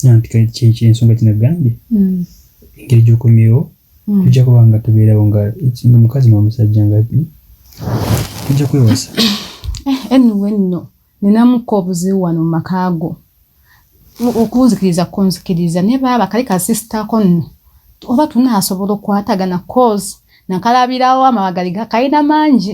anti kale kyensonga kinagambye mm. engeri gyokomyewo mm. tujja kuba nga tubeerawo nga mukazi nomusajja nga tujja kwewasa eh, anyway nno ninamuko obuzibu wano mu maka go okunzikiriza kunzikiriza naye baaba kali kasisitako nno oba tunaasobola okwatagana cause nakalabirawo amabagali gakalina mangi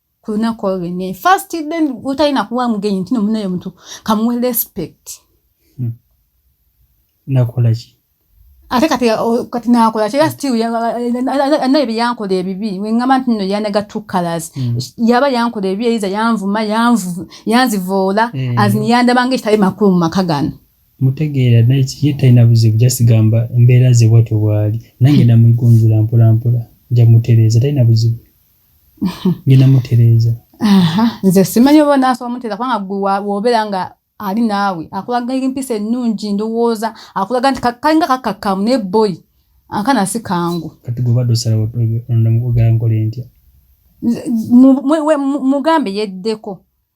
ku lunaku olwo lwennyini first then otalina kuwa mugenyi ntino munayo omuntu kamuwe respect hmm. nakolaki ate kati kati nakola kira still anaye byeyankola ebibi wengamba nti nno yanaga two colors hmm. yaba yankola ebibi eyiza yanvuma yanzivoola hmm. azini yandabanga ekitali makulu mu maka gano mutegeera naye ye talina buzibu jasigamba embeera ze bwatyo bwali nange namuigunjula mpolampola nja mutereeza talina buzibu ngenda mutereeza nze simanyi oba nasobola mutereeza kubanga gwe wobeera nga ali naawe akulaga empisa ennungi ndowooza akulaga nti kalinga kakakkamu naye boyi akana si kangu kati gwe obadde osalawo ogala nkole ntya mugambe yeddeko